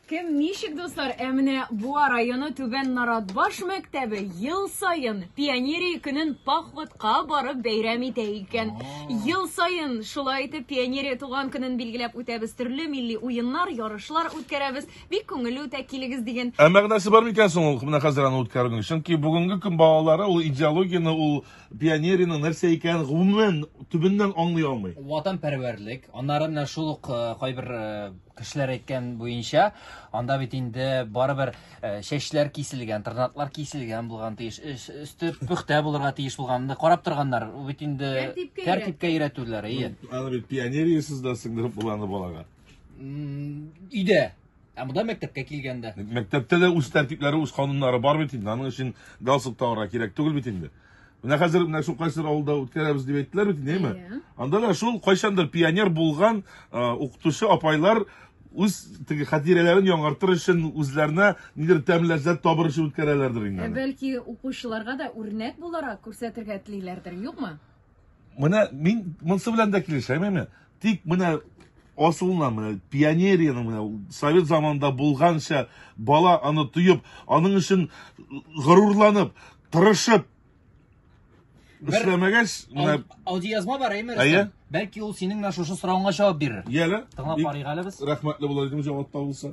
Кем ничек, дуслар, ә менә Буа районы Түбән Наратбаш мәктәбе ел саен пионерия көнен походка барып бәйрәм итә икән. Ел саен шулай итеп пионерия туган көнен билгеләп үтәбез, төрле милли уеннар, ярышлар үткәрәбез. Бик күңелле үтә, килегез дигән. Ә мәгънәсе бар микән соң ул менә хәзер аны үткәрүнең? Чөнки бүгенге көн балалары ул идеологияне, ул пионерияның нәрсә икәнен гомумән төбеннән аңлый алмый. Ватанпәрвәрлек, аннары менә шул ук кайбер кешеләр әйткән буенча, анда бит инде барыбер э, чәчләр киселгән, тырнаклар киселгән булган тиеш, өсте пөхтә булырга тиеш булганны карап торганнар. Ул бит инде тәртипкә өйрәтүләр, ие. Аны бит пионериясез дә сеңдереп булганы балага. Өйдә. Ә монда мәктәпкә килгәндә. Мәктәптә дә үз тәртипләре, үз кануннары бар бит инде. Аның өчен галстук тагырга кирәк түгел бит инде. Менә хәзер менә шул кайсыр авылда үткәрәбез дип әйттеләр бит, нәйме? Иә. Анда да шул кайчандыр пионер булган а, укытучы апайлар үз теге хатирәләрен яңартыр өчен үзләренә нидер тәм ләззәт табыр өчен үткәрәләрдер инде. Ә аны. бәлки укучыларга да үрнәк буларак күрсәтергә телиләрдер, юкмы? Менә мин монсы белән дә килешәм инде. Тик менә асылыннан менә пионерияның менә совет заманында булганча бала аны тоеп, аның өчен горурланып, тырышып эшләмәгәч, менә аудиоязма бар әйме? Әйе. Бәлки ул синең менә шушы соравыңа җавап бирер. Яле. Тыңлап карыйк әле без. Рәхмәтле булыр идем җавап табылса.